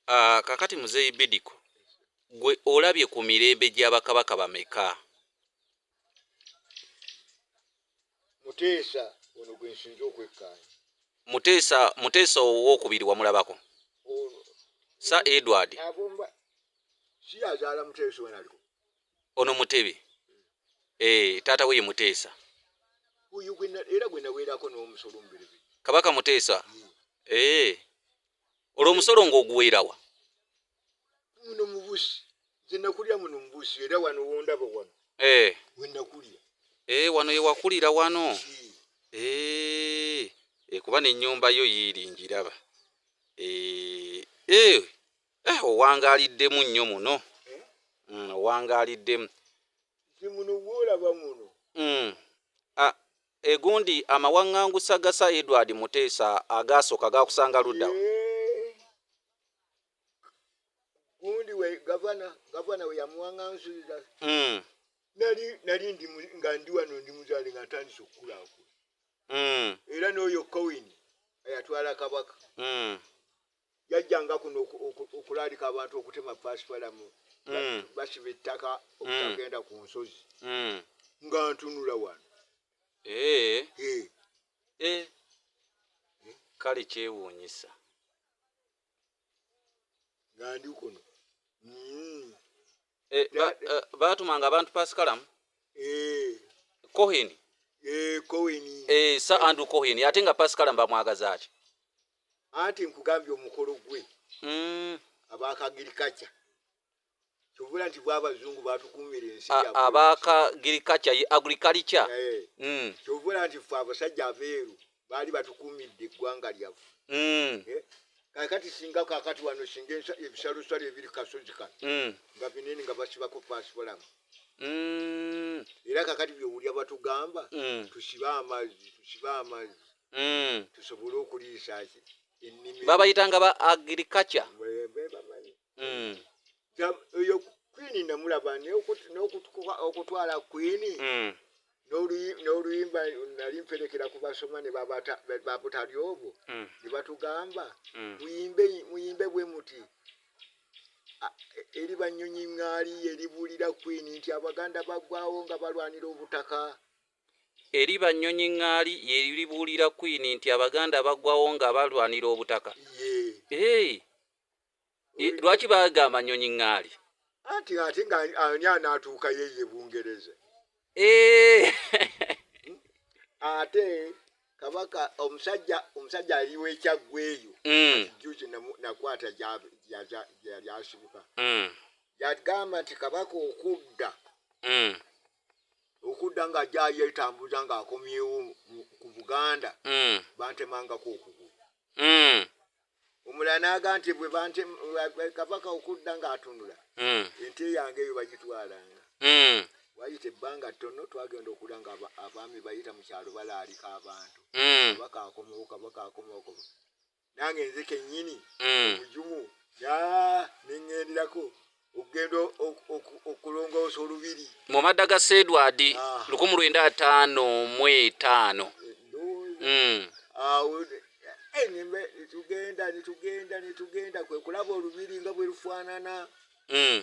Ah, kakati muzeeyi Bidiko, gwe olabye ku mirembe gya bakabaka bameka? Muteesa ono gwe nsinze okwekkaanya. Muteesa Muteesa owookubiri wamulabako? Ono Sir Edward. agomba si yazaala muteesa ono aliko ono mutebe eh, taata we ye muteesa oyo gwena era gwena werako n'omusolo omuberebe kabaka muteesa eh, olwo omusolo ng'oguweerawa muno mubusi nze nakulira muno mubusi era wano wondaba wano eh. wenakulira eh, wano yewakulira wano eh, eh, kuba n'ennyumba yo yiiri ngiraba eh, eh. Eh, owangaaliddemu nnyo muno mm, owangaaliddemu nze muno gwolaba muno mm. A, egundi amawaŋŋangusa ga sa edward muteesa agaasooka gaakusanga ludda Eh, gundi we gavana gavana we yamuwaŋŋanzulira mm. nali nali ndi mu- nga ndi wano ndi muzaale nga ntandise okukulaakula Mm. era n'oyo kowini eyatwala kabaka Mm. yajjanga kuno okulaalika abantu okutema pasipalamu hmm. basiba ettaka okutagenda hmm. ku nsozi hmm. nga ntunula wano eh. Eh. Eh. kale kyewuunyisa nga ndi kuno baatumanga abantu pasikalamu kohini kohini sa andu kohini ate nga pasikalamu bamwagaza ki anti nkugambye omukolo gwe mm. abakagirikaca kyovula nti bwabazungu batukumira ensi abakagirikaca ye agrikalica eh. mm. kyovula nti fe abasajja abeeru baali batukumidde eggwanga lyaffe mm. eh? kakati singa kakati wano singa ebisalosalo ebiri kasozi kano mm. nga binene nga basibako pasipolamu mm. era kakati byowulya batugamba mm. tusibe amazzi tusibe amazzi mm. tusobole okuliisa ki ennimi babayitanga ba agriculture bebamanyi mm. oyo kwini namulaba n'okutwala kwini mm. n'oluyimba nali mperekera ku basoma ne babutali obwo mm. ne batugamba mm. muyimbe bwe muti eri banyonyi ŋŋaali eribuulira kwini nti abaganda bagwawo nga balwanira obutaka Eri ba Nnyonyi Ŋŋaali ye libuulira Kkwiini nti Abaganda bagwawo nga balwanira obutaka. Eeh! Lwaki bagamba Nnyonyi Ŋŋaali? Anti ate nga ani anaatuukayo eyo e Bungereza? Eeh! Ate Kabaka omusajja omusajja ali w'e Kyaggwe eyo, mm. kati jjuuzi nakwata gye yali asibuka, mm. yagamba nti Kabaka okudda mm. okudda nga ajja yetambuza nga akomyewo ku buganda mm. bantemangako okugulu mm. omulala naga nti bwe kabaka okudda nga atunula mm. ente yange eyo bagitwalanga mm. wayita ebbanga ttono twagenda okula nga abaami bayita mu kyalo balaalika abantu mm. kabaka akomewo kabaka akomewo nange nze kenyini mm. obujumu ya nengendirako okugenda okulongoosa olubiri mu madda ga sedwadi ah. lukumu lwenda ataano mu etaano eh, mm. awo eh, netugenda netugenda netugenda kwekulaba olubiri nga bwerufaanana mm.